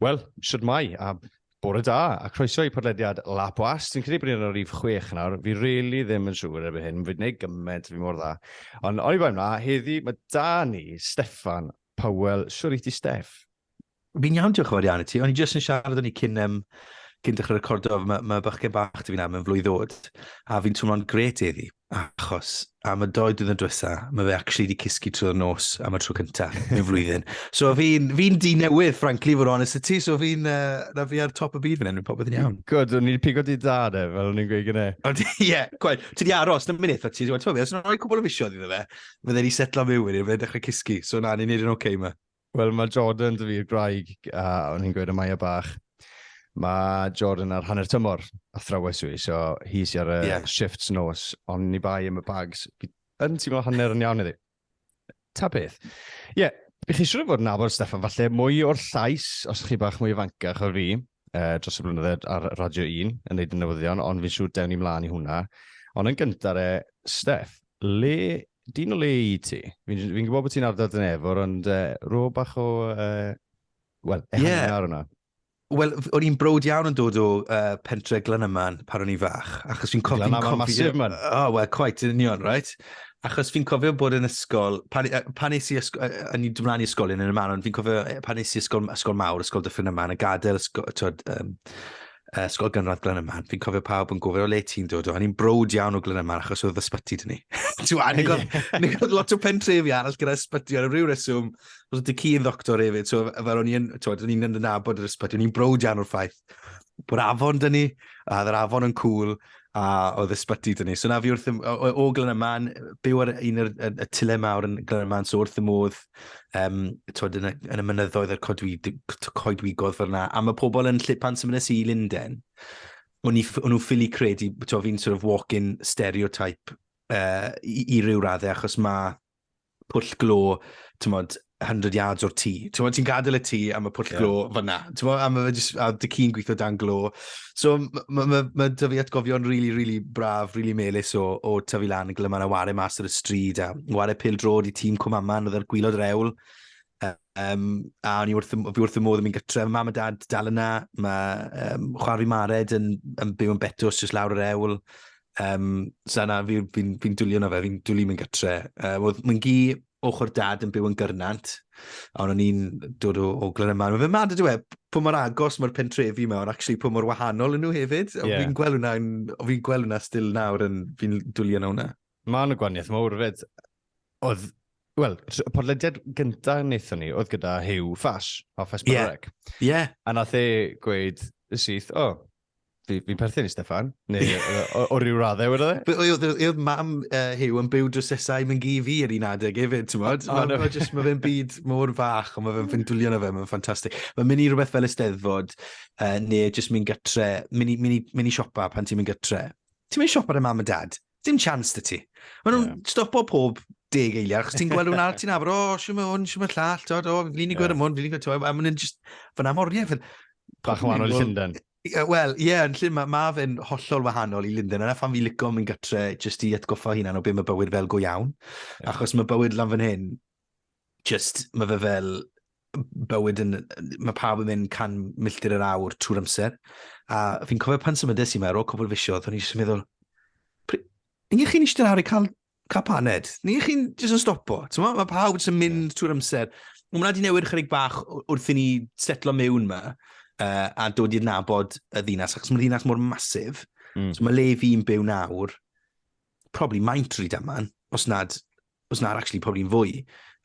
Wel, siwt mai, a bore da, a croeso i podlediad La Boas. Dwi'n credu bod ni'n rhif chwech nawr. Fi rili really ddim yn siŵr erbyn hyn, fi'n gwneud gymaint fi mor dda. Ond o'i bai mna, heddi mae da ni Steffan Powell, shwr i ti Steff? Fi'n iawn diolch yn fawr iawn i ti, o'n i jyst yn siarad o'n i cyn um, cyn dechrau recordo, mae, mae bychgen bach ti fi'n am yn flwydd ddod, a fi'n twmlo'n gret eddi, achos am y doi dyn yn dwysa, mae fe actually wedi cysgu trwy'r nos am y tro cyntaf yn flwyddyn. So fi'n fi di newydd, frankly, fod honest y ti, so fi'n, uh, na fi ar top y byd fan hyn, popeth yn iawn. Good, o'n i'n pigo di da, ne, fel o'n i'n gweud gyda. Ie, yeah, gwaith, ti di aros, na mynd eitha ti, ti'n gwybod, os yna rhoi cwbl o fisioedd iddo fe, fydde ni setlo mewn wedyn, fydde dechrau cysgu. So na, ni'n neud yn oce okay, yma. Wel, mae Jordan, dy fi'r graig, a o'n i'n gweud y Maia bach, mae Jordan ar hanner tymor a thrawes i, so hi si ar y yeah. shifts nos, ond ni bai am y bags. Yn ti'n meddwl hanner yn iawn iddi. Ta beth. Ie, yeah, chi siwr o fod yn nabod Stefan, falle mwy o'r llais, os chi bach mwy ifancach o fi, uh, dros y blynyddoedd ar Radio 1 yn gwneud y newyddion, ond fi'n siŵr dewn ni mlaen i hwnna. Ond yn gyntaf re, Steff, le, dyn o le i ti? Fi'n fi gwybod bod ti'n ardal dyn efo, ond uh, rho bach o, uh, wel, ehangu yeah. ar hwnna. Wel, o'n i'n brod iawn yn dod o uh, pentre Glenyman pan o'n i'n fach, achos fi'n cofio... Glenyman masif, man. O, oh, wel, quite, yn union, right? Achos fi'n cofio bod yn ysgol, pan, pan nes i ysgol, a ni'n dymlaen i ysgolion yn y man, ond fi'n cofio pan nes i ysgol, ysgol mawr, ysgol dyffryn yma, yn y gadael ysgol, twyd, um, ysgol gynradd Glen yma, fi'n cofio pawb yn gofio le ti'n dod o, a ni'n brod iawn o Glen yma achos oedd ysbyty dyn ni. Ti'n gwybod, lot o pentrefi arall gyda ysbyty ar y rhyw reswm, oedd y ci yn ddoctor hefyd, so fel o'n i'n, twyd, o'n i'n nabod yr ysbyty, o'n i'n brod iawn o'r ffaith. bod afon dyn ni, a oedd yr afon yn cool, a oedd ysbyty dyn ni. So na fi wrth y, o, o Glen Yman, byw ar un o'r y, tule mawr yn Glen Yman, so wrth y modd, um, twod, yn, y, yn y mynyddoedd yr coedwi, coedwigodd fel yna. A mae pobl yn lle pan sy'n mynd i Linden, o'n nhw'n ffili credu, ti'n fi'n sort of walk-in stereotype uh, i, i ryw raddau, achos mae pwll glo, ti'n modd, 100 yards o'r tŷ. Ti'n modd, ti'n gadael y tŷ am y pwll yeah. glo fyna. Ti'n modd, am y just, a dy cyn gweithio dan glo. So, mae ma, ma, ma dy fi atgofion rili, really, rili really braf, rili really melus o, o tyfu lan yn glyma na ware mas ar y stryd a ware pil drod i tîm Cwmaman oedd ar gwylod yr ewl. Um, a o'n i wrth, fi wrth y modd yn mynd gytre. Mae mam a dad dal yna. Mae um, chwarae fi Mared yn, yn byw yn Betws, jyst lawr yr ewl. Um, so na, fi'n fi, fi, fi dwlio na fe, fi'n dwlio mynd gytre. Um, oedd mae'n gi ochr dad yn byw yn gyrnant, a o'n i'n dod o, o Glen Yman. Mae fe mad ydw e, pwy mor agos mae'r pentrefi yma, ond actually pwy mor wahanol yn nhw hefyd. Yeah. Fi'n gweld hwnna, fi'n gweld hwnna still nawr, yn fi'n dwlio na hwnna. Mae yna gwaniaeth mawr fyd. Oedd, wel, podlediad gyntaf wnaethon ni, oedd gyda Hugh Fash, o Fash Barrec. Ie. Yeah. Yeah. A nath e gweud syth, o, oh, Fi, fi'n perthyn i Stefan, neu o, o ryw raddau wedi e? Oedd mam uh, Hugh yn byw drwsesau mynd gi fi yr un adeg hefyd, ti'n modd? Oh, no. Mae fe'n byd mor fach, ond mae fe'n ffindwlio na fe, mae'n ffantastig. Mae'n mynd i rhywbeth fel ysteddfod, uh, neu jyst mynd gytre, mynd i, mynd i, mynd i siopa pan ti'n mynd gytre. Ti'n mynd i siopa dy mam a dad? Dim chance dy ti. Mae nhw'n yeah. stopo pob deg eiliad, chos ti'n gweld hwnna, ti'n afr, o, oh, sy'n hwn, sy'n llall, ti'n o, fi'n glini gwedd am hwn, fi'n glini gwedd, a maen nhw'n just, fan am oriau. Bach yn wahanol i Llundain. Wel, ie, yn llun mae ma fe'n hollol wahanol i Linden. Yna phan fi lico mynd gytre jyst i atgoffa hunan o beth mae bywyd fel go iawn. Yeah. Achos mae bywyd lan fan hyn, Just, mae fe fel bywyd yn... Mae pawb yn mynd can milltir yr awr trwy'r amser. A fi'n cofio pan symudais i yma, ar ôl cwbl fisiodd, o'n i jyst yn meddwl, ni ych chi'n eistedd lawr i cael, cael paned? Ni ych chi'n jyst yn stopo? Mae pawb jyst yn mynd yeah. trwy'r amser. Mae hwnna wedi newid chyrig bach wrth i ni setlo mewn yma uh, a dod i'r nabod y ddinas, achos mae'r ddinas mor masif. Mm. So mae le fi'n byw nawr, probably maint rydyn yma, os nad os na'r actually probably yn fwy.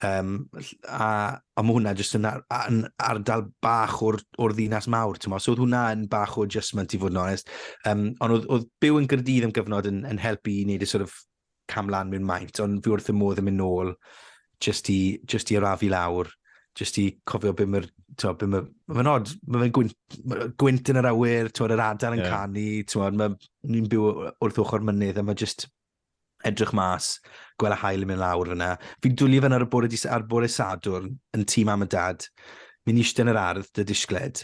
Um, a, a mae hwnna jyst yn, ar, yn ardal bach o'r, or ddinas mawr, ti'n mo? So oedd hwnna yn bach o adjustment i fod yn onest. Um, ond oedd, oedd byw yn gyrdydd am gyfnod yn, yn helpu i wneud y sort of camlan mewn maint, ond fi wrth y modd yn mynd nôl jyst i, just i arafu lawr, jyst i cofio beth mae'r to, be mae, mae'n nod, mae fe'n gwynt, gwynt yn yr awyr, to, yr adar yn yeah. canu, to, mae ni'n byw wrth ochr mynydd, a mae just, edrych mas, gweld y haul yn mynd lawr fyna. Fi'n dwli fyna ar y bore, dis, ar bore Sadwrn yn tîm am y dad. Mi'n eistedd yn yr ardd, dy disgled.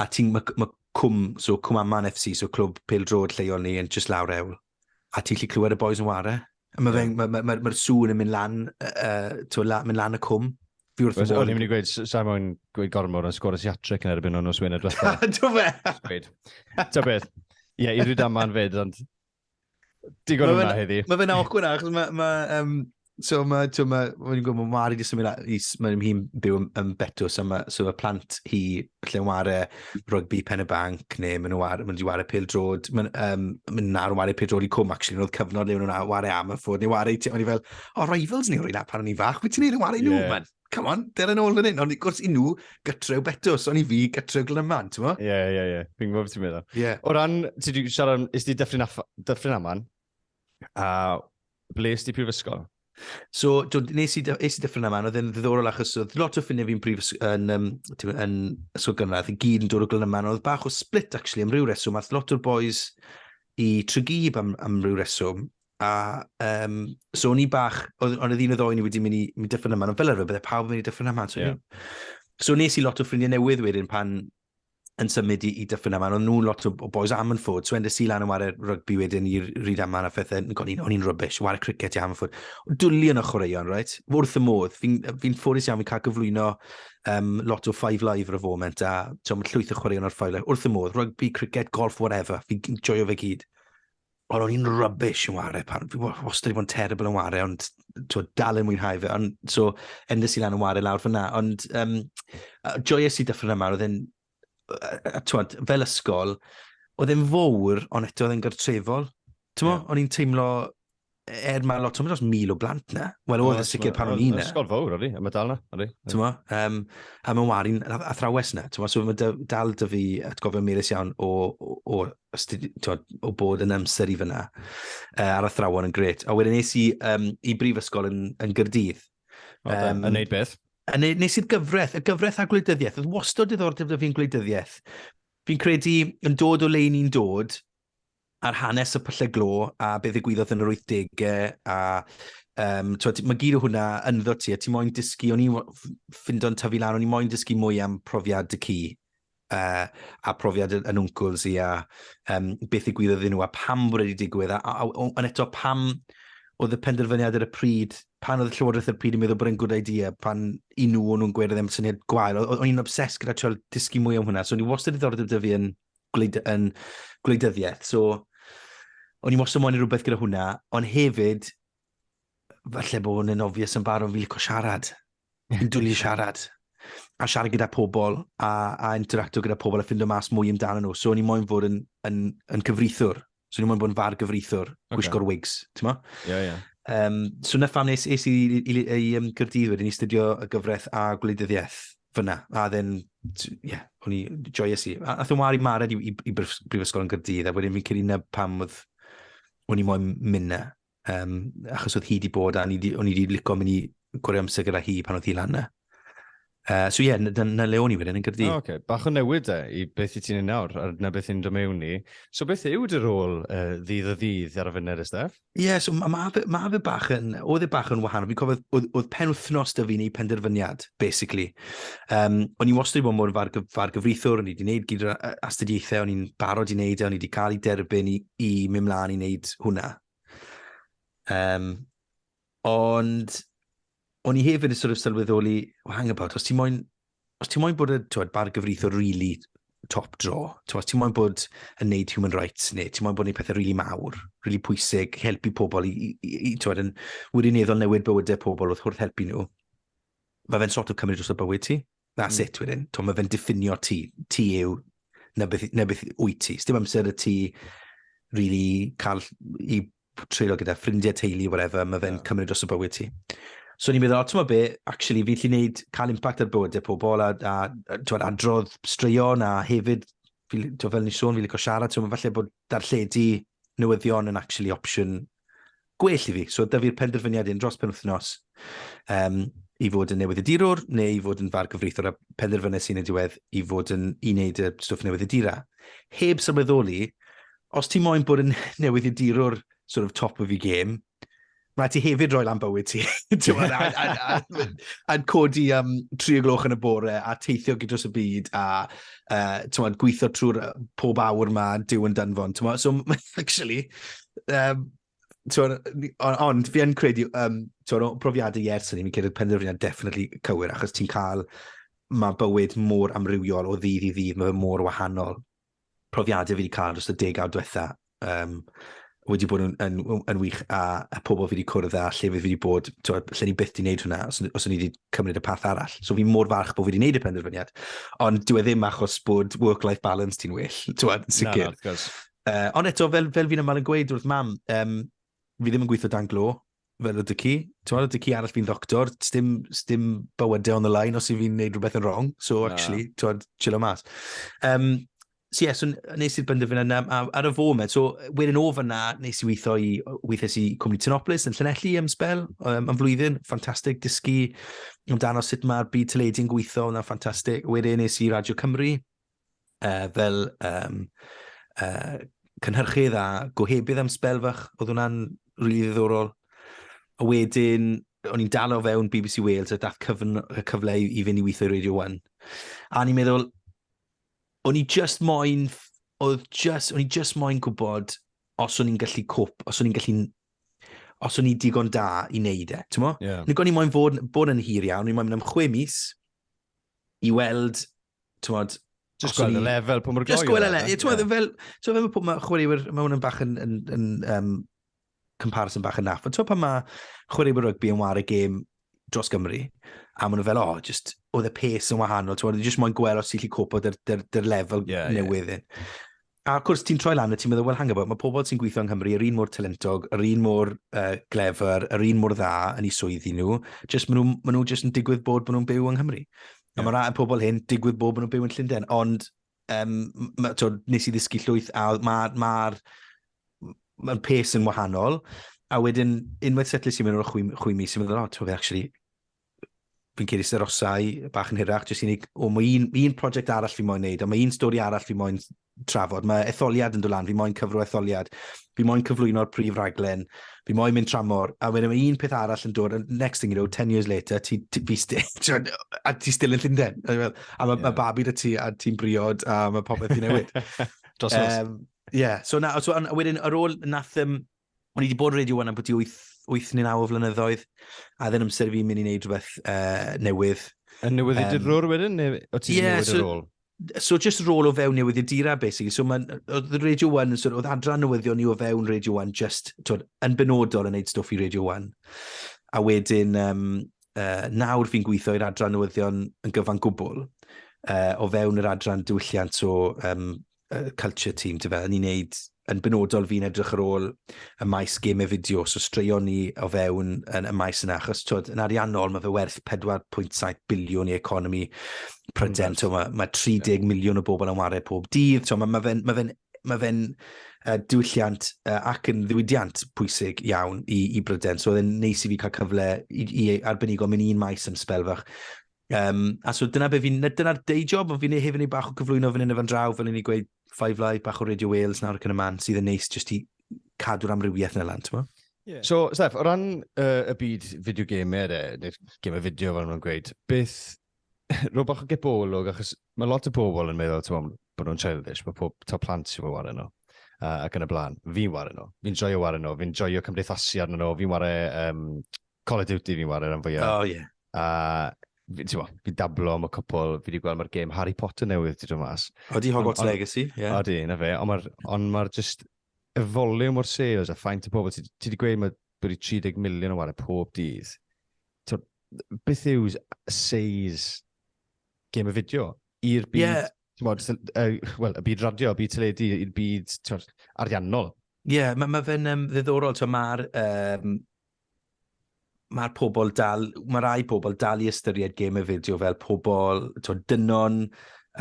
A ti'n, mae ma cwm, so cwm aman FC, so clwb pel drod lleol ni, yn just lawr ewl. A ti'n lli clywed y boys yn ware. Mae yeah. ma, ma, ma, ma sŵn yn mynd lan, uh, to, la, mynd lan y cwm. Fi wrth y modd. O'n i'n mynd i gweud, sa'n mwyn gweud gormod yn sgwrs i atric yn erbyn o'n nos Wener diwethaf. Do fe? Ta beth. Ie, i ryd aman fyd, ond Digon o hwnna heddi. Mae fe'n awkward achos mae... Ma, um, so mae, ti'n ma, mae'n gwybod, mae Mari jyst yn mynd, i, mae'n hi'n byw yn, yn Betws, so mae, so mae plant hi lle yn wario rygbi pen y banc, neu mae'n wario, mae'n wario pil drod, mae'n um, ma nawr yn wario pil drod i cwm, actually, oedd cyfnod le mae'n nhw'n wario am y ffwrdd, neu wario, o'n i fel, o, oh, rivals ni, rwy'n pan o'n i'n fach, wyt ti'n ei yn wario nhw, yeah. man? come on, del yn ôl fan hyn. Ond gwrs i nhw, gytrew betws, ond i fi, gytrew glyman, ti'n mo? Ie, yeah, ie, yeah, ie. Yeah. Fi'n gwybod beth ti'n meddwl. Yeah. O ran, ti wedi siarad, is di dyffryn, dyffryn aman, a ble is di prifysgol? So, do, nes i, nes i dyffryn aman, oedd yn ddiddorol achos oedd lot o ffiniau fi'n prif yn, um, yn ysgol gynradd i gyd yn dod o Glynyman, oedd bach o split actually am ryw reswm, ath lot o'r boys i Trygib am, am ryw reswm, A um, so o'n i bach, ond oedd un o ddoen ni wedi mynd i mynd dyffryn yma, ond fel arfer bydde pawb yn mynd i dyffryn yma. So, yeah. so nes i lot o ffrindiau newydd wedyn pan yn symud i, i dyffryn yma, ond nhw'n lot o, o boys am yn ffod, so endes i lan yn wario rygbi wedyn i'r ryd yma a phethau, o'n i'n rybys, wario cricet i am yn ffod. Dwli yn y chwaraeon, right? Wrth y modd, fi'n fi ffodus iawn, fi'n cael gyflwyno um, lot o Five Live ar y foment, a ti'n llwyth o chwaraeon o'r Five Live, wrth y modd, rygbi, cricet, golf, whatever, fi'n joio fe gyd. Ond o'n i'n rubbish yn wario pan, fi wastad wedi bod yn terrible yn wario, ond twyd, dal yn mwynhau fe. Ond, so, endes i lan yn wario lawr fyna. Ond, um, joyous i dyffryn yma, oedd e'n, twyd, fel ysgol, oedd e'n fawr, ond eto oedd e'n gartrefol. Ti'n mo, yeah. o'n i'n teimlo, er mae lot, ti'n dros mil o blant na. Wel, oedd y sicr pan o'n i'n na. Ysgol fawr, odi, a mae dal na, odi. Ti'n mo, um, a mae'n warin athrawes na, ti'n mo, so mae dal dy fi atgofio melus iawn o, o, o, o, o bod yn amser i fyna uh, ar athrawon yn gret. A wedyn nes i um, i brifysgol yn, yn Gyrdydd. Um, yn neud beth? Yn neud, nes i'r gyfraith, y gyfraith a gwleidyddiaeth. Oedd wastod diddordeb dy fi'n gwleidyddiaeth. Fi'n credu yn dod o le ni'n dod, ar hanes y pyllau glo a be ddigwyddodd yn yr 80au a um, twed, mae gyd o hwnna ynddo ti a ti moyn dysgu, o'n i'n ffind o'n tyfu lan, o'n i'n moyn dysgu mwy am profiad y ci uh, a profiad yn wncwls i a um, beth i gwyddoedd nhw a pam bod wedi digwydd a, a, a, a, a eto pam oedd y penderfyniad ar y pryd, pan oedd y llywodraeth ar y pryd yn meddwl bod e'n good idea, pan i nhw o'n nhw'n gweud oedd e'n syniad gwael, o'n i'n obses gyda trio dysgu mwy am hwnna, so o'n i wastad ddiddordeb dy fi yn gwleid, yn gwleidyddiaeth. So, o'n i mos ymwneud rhywbeth gyda hwnna, ond hefyd, falle bod hwn yn obvious yn barod, fi licio siarad. Fi'n dwlu siarad. A siarad gyda pobl, a, a interacto gyda pobl, a ffindo mas mwy amdano nhw. So, o'n i moyn fod yn, yn, yn cyfrithwr, Swn i'n mwyn bod yn far gyfreithwr, okay. gwisgo'r wigs, ti'n mo? Ie, yeah, ie. Yeah. Um, so na pham nes, nes i, i, i, i um, Gyrdydd wedyn i studio y gyfraith a gwleidyddiaeth fyna. A then, ie, yeah, o'n i joyous i. A, a thyn wari mared i, i, i brifysgol yn Gyrdydd, a wedyn fi'n credu na pam oedd o'n i moyn mynd na. Um, achos oedd hi wedi bod, a o'n i wedi licio mynd i gwrdd amser gyda hi pan oedd hi lan na. Uh, so ie, yeah, na, na le o'n i wedyn yn gyrdi. Oh, okay. Bach o newid e, i beth i ti'n ei nawr, a na beth i'n dymewn ni. So beth yw dy rôl uh, ddydd o ddydd ar y funud, Estef? Ie, yeah, so mae ma fe, ma fe bach yn, oedd e bach yn wahanol. Fi'n cofio, oedd, oedd pen wythnos da fi'n ei penderfyniad, basically. Um, o'n i wastad i bod mor far, far gyfrithwr, o'n i wedi gwneud gyda astudiaethau, o'n i'n barod i wneud e, o'n i wedi cael ei derbyn i, i mynd mlaen i wneud hwnna. Um, ond o'n i hefyd yn sort of sylweddoli, well, hang about, os ti moyn, os ti moyn bod y twed, bar gyfreithiwr really top draw, twed, os ti moyn bod yn neud human rights, neu ti moyn bod yn neud pethau really mawr, really pwysig, helpu pobl i, i, i, i twed, yn wirioneddol newid bywydau pobl wrth hwrth helpu nhw, mae fe'n sort of cymryd dros y bywyd ti. That's mm. it wedyn. To, mae fe'n diffinio ti. Ti yw, na beth, na beth wyt ti. Sdim amser y ti really cael i treulio gyda ffrindiau, teulu, whatever, mae fe'n yeah. cymryd dros y bywyd ti. So ni'n meddwl, ti'n be, actually, fi'n lli wneud cael impact ar bywydau pobl a, a, a, a adrodd straeon a hefyd, fi, fel ni sôn, fi'n licio siarad, so falle bod darlledu newyddion yn actually opsiwn gwell i fi. So dyfu'r penderfyniad un dros penwthnos um, i fod yn newydd y dirwr neu i fod yn far gyfreithwr a penderfynu sy'n y diwedd i fod yn i wneud y stwff newydd y dira. Heb sylweddoli, os ti moyn bod yn newydd y dirwr sort of top of your game, mae ti hefyd roi lan bywyd ti. A'n codi am tri o gloch yn y bore a teithio gyda'r y byd a uh, tywed, gweithio trwy'r pob awr mae Dyw yn danfon. Tywed, so, actually, um, ond fi yn credu, um, o profiadau i ers hynny, fi'n credu penderfyniad definitely cywir, achos ti'n cael, mae bywyd mor amrywiol o ddydd i ddydd, mae fe mor wahanol. Profiadau fi wedi cael dros y degawd diwetha, um, wedi bod yn, yn, yn, yn wych a, a pobl fi wedi cwrdd a lle fi wedi bod, twa, lle ni byth wedi gwneud hwnna os, os o'n i wedi cymryd y path arall. So fi mor falch bod fi wedi gwneud y penderfyniad. Ond dwi e ddim achos bod work-life balance ti'n well, ti'n sicr. Na, na, Uh, ond eto, fel, fel fi'n ymwneud yn gweud wrth mam, um, fi ddim yn gweithio dan glo, fel ydych chi. Ti'n meddwl, ydych chi arall fi'n ddoctor, stym, stym bywydau on the line os i fi'n neud rhywbeth yn wrong, so Na. actually, ti'n meddwl, chill o mas. Um, so yes, so nes i'r byndyfyn yna, a, ar y foment, so wedyn o fyna, nes i weithio i, weithiau i Cwmni Tynoplis yn Llanelli am spel, um, am flwyddyn, ffantastig, dysgu amdano sut mae'r byd teledu yn gweithio, yna ffantastig. Wedyn nes i Radio Cymru, uh, fel um, uh, cynhyrchydd a gohebydd am spel fach. Oedd hwnna'n rili really ddiddorol. A wedyn, o'n i'n dal o fewn BBC Wales a dath cyfn, y cyfle i, i fynd i weithio i Radio 1. A ni'n meddwl, o'n i just moyn, oedd just, o'n i just moyn gwybod os o'n i'n gallu cwp, os o'n i'n gallu os o'n i digon da i wneud e, ti'n mo? Yeah. Nid o'n i moyn fod, bod yn hir iawn, o'n i moyn mynd am chwe mis, i weld, tywod... Just gweld y lefel, pwy mor gloi. Just gweld y lefel, tywod, yeah. fel, tywod, fel pob mae chwaraewyr, mae hwn yn bach yn, yn, yn um, comparison bach yn naff, ond tywod pan mae chwaraewyr rygbi yn war y gêm dros Gymru, a maen nhw fel, o, oh, just, oedd y pes yn wahanol, tywod, just moyn gweld os ti'n lli copo dy'r lefel yeah, newydd yeah. A wrth gwrs, ti'n troi lan a ti'n meddwl, wel, hang about, mae pobl sy'n gweithio yng Nghymru yr un mor talentog, yr un mor uh, glefer, yr un mor dda yn ei swyddi nhw, jyst maen nhw, maen nhw jyst yn digwydd bod maen nhw'n byw yng Nghymru. Yeah. A mae rhai pobl hyn digwydd bod maen nhw'n byw yn Llundain, ond um, ma, to, nes i ddysgu llwyth a mae'r ma, ma, ma pes yn wahanol, a wedyn unwaith setlis i mewn o'r chwi, chwi mis, i'n meddwl, oh, to, actually, fi'n ceir eisiau rosau bach yn hirach, jyst i ni, o, mae un, un prosiect arall fi moyn neud, a mae un stori arall fi moyn trafod, mae etholiad yn dod lan, fi moyn cyfro etholiad, fi moyn cyflwyno'r prif raglen, fi moyn mynd tramor, a wedyn mae un peth arall yn dod, next thing you know, 10 years later, ti, ti, fi sti, a ti still yn Llundain, a mae yeah. ma babi da ti, a ti'n briod, a mae popeth ti'n newid. Dros um, Ie, yeah. so, na, so, a wedyn, ar ôl nath, um, O'n i wedi bod radio wan am bwti 8, 8 neu 9 o flynyddoedd, a ddyn amser fi'n mynd i wneud rhywbeth uh, newydd. A newydd um, i'r rôl wedyn, neu o ti'n yeah, newid so, y rôl? So just rôl o fewn newydd i'r dira, basically. So mae, oedd Radio 1, so, oedd adran newyddion ni o fewn Radio 1, just, twyd, yn benodol yn neud stwff i Radio 1. A wedyn, um, uh, nawr fi'n gweithio i'r adran newyddion yn gyfan gwbl, uh, o fewn yr adran diwylliant o um, uh, culture team, ti'n fe, ni'n neud yn benodol fi'n edrych ar ôl y maes gemau fideo, so straeon ni o fewn yn y maes yna, achos twyd, yn ariannol mae fe werth 4.7 biliwn i economi Pryden, mm, mae, mae 30 yeah. miliwn o bobl yn wario pob dydd, mae, mae fe'n ma fe ma fe uh, diwylliant uh, ac yn ddiwydiant pwysig iawn i, i Bryden, so oedd e'n neis i fi cael cyfle i, i arbenigo mynd i'n maes am spel fach, Um, a so dyna be fi'n, dyna'r day job, ond fi'n ei hefyd ei bach o gyflwyno fan hyn efo'n draw, fel ni'n gweud, Five Live, bach o Radio Wales nawr ac yn y man, sydd yn neis jyst i cadw'r amrywiaeth yna lan, ti'n Yeah. So, Steph, o ran uh, y byd fideo game er, neu'r gemau fideo fel nhw'n gweud, beth, rho bach o gebolwg, achos mae lot o bobl yn meddwl, ti'n bod nhw'n childish, mae pob to plant sy'n fawr wario nhw, uh, ac yn y blaen. Fi'n wario nhw, fi'n joio wario nhw, fi'n joio cymdeithasu arno nhw, fi'n wario um, Call of Duty fi'n wario rhan fwyaf. Oh, yeah. A fi, ti'n fi dablo am y cwpl, fi wedi gweld mae'r game Harry Potter newydd wedi dod mas. Odi Hogwarts on, on, Legacy, ie. Yeah. Odi, na fe, ond mae'r on ma just y volume o'r sales a ffaint y pobl, ti wedi gweud mae bod i 30 miliwn o wario pob dydd. To, beth yw seis game y fideo i'r byd, yeah. Mod, uh, well, y byd radio, y byd teledu, i'r byd tywed, ariannol. Ie, yeah, mae ma fe'n um, ddiddorol. Mae'r um, mae'r pobl dal, mae rai pobl dal i ystyried gêm y fideo fel pobl, ti'n dynon,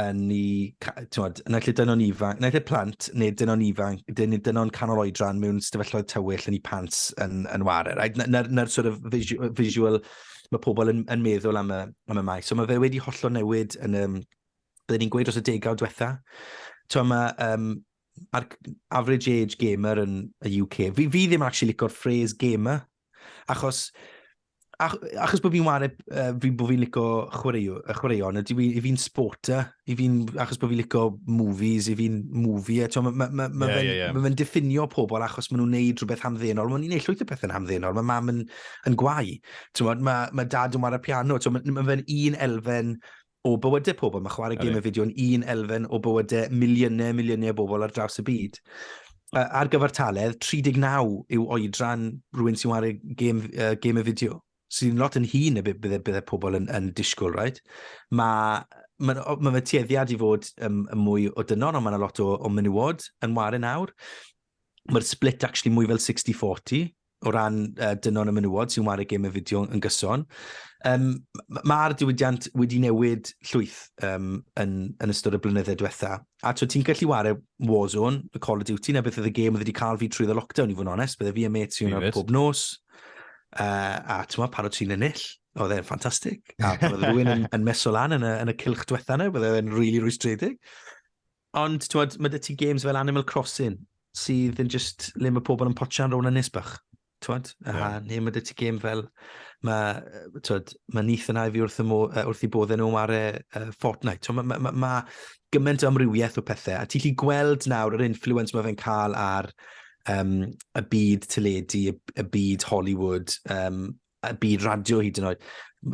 yn ni, ti'n yn allu dynon ifanc, yn allu plant, neu dynon ifanc, dyn ni dynon canol oedran mewn stafellau'r tywyll yn ei pants yn, yn wario, right? Na'r, na sort of visual, visual mae pobl yn, yn meddwl am y, am y maes. So mae fe wedi hollol newid yn y, byddwn ni'n gweud dros y degawd diwetha. Ti'n mae, um, a'r average age gamer yn y UK. Fi, fi ddim actually licor phrase gamer, achos ach, achos bod fi'n wario, uh, fi, bod fi'n licio chwaraeo, y chwaraeon, ydy fi, i fi'n sporter, i fi'n, achos bod fi'n licio movies, i fi'n movie, eto, mae ma, ma, ma yeah, fe'n yeah, yeah. ma diffinio pobl achos maen nhw'n neud rhywbeth hamddenol, maen nhw'n neud llwyth o pethau'n hamddenol, mae mam yn, yn gwau, mae ma dad yn wario piano, mae ma fe'n un elfen o bywydau pobl. Mae chwarae gymau fideo yn un elfen o bywydau miliynau, miliynau o bobl ar draws y byd. Uh, ar gyfartaledd, 39 yw oedran rhywun sy'n wario gêm, uh, gêm y fideo, sy'n lot yn hun y bydde, bydde pobl yn, yn disgwyl, right? Mae mae ma fe tueddiad i fod um, mwy o dynon, ond mae yna lot o, o menywod yn wario nawr. mae'r split actually mwy fel 60-40 o ran uh, dynon y menywod sy'n wario gêm y fideo yn gyson. Um, Mae'r diwydiant wedi newid llwyth um, yn, yn ystod y blynydde diwetha. A to, ti'n gallu wario Warzone, y Call of Duty, na beth oedd y gêm oedd wedi cael fi trwy ddo lockdown i fod yn onest. Bydde fi a met sy'n pob nos. Uh, a ti'n meddwl, parod sy'n ennill. Oedd e'n ffantastig. A oedd rhywun yn, yn meso lan yn y, yn y cilch diwetha yna, bydde e'n rili really rwystredig. Ond, ti'n mae dy ti games fel Animal Crossing, sydd yn just le mae pobl yn potsian rown yn nisbach. Twod? Yeah. A neu mae dy ti game fel, mae, twod, mae nith yn haifi wrth, mo, uh, wrth i boddau nhw ar e uh, Fortnite. Twod, mae ma, ma, ma gymaint o amrywiaeth o pethau. A ti'n lli gweld nawr yr influence mae fe'n cael ar um, y byd teledu, y, y byd Hollywood, um, y byd radio hyd yn oed.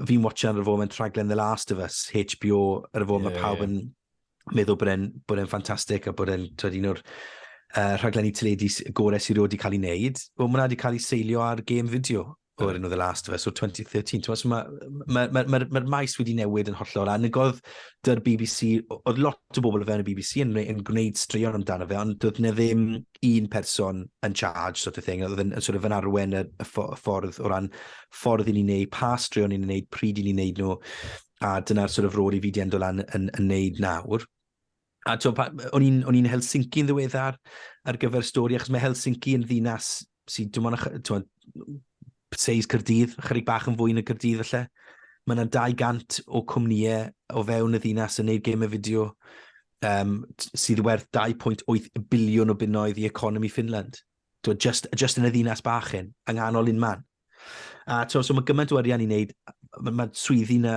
Fi'n watchan ar y foment rhaglen The Last of Us, HBO, ar y foment yeah, mae pawb yn yeah. meddwl bod e'n bod e'n ffantastig a bod e'n twyd un o'r uh, rhaglenni teledu gorau sy'n rhywbeth wedi cael ei wneud. Wel, mae'n wedi cael ei seilio ar game fideo o'r enw The Last of Us o'r 2013. Mae'r ma, ma, ma, ma, ma maes wedi newid yn hollol. A negodd dy'r BBC, oedd lot o bobl o fewn y BBC yn, yn gwneud straeon amdano fe, ond doedd ne ddim un person yn charge, sort of thing, oedd yn, sort of yn arwen y, y ffordd o ran ffordd i ni'n neud, pa straeon ni'n neud, pryd i ni'n neud nhw, a dyna'r sort of rôl i fi di endo lan yn, yn neud nawr. A to, pa, o'n i'n Helsinki yn ddiweddar ar gyfer stori, achos mae Helsinki yn ddinas sy'n dim ond, seis Cyrdydd, chyrig bach yn fwy yn y Cyrdydd felly. Mae yna 200 o cwmnïau o fewn y ddinas yn neud gemau fideo um, sydd werth 2.8 biliwn o bunnoedd i economi Finland. Twa, just, just yn y ddinas bach hyn, yng nghanol un man. A twa, so mae gymaint o arian i wneud, mae ma swyddi yna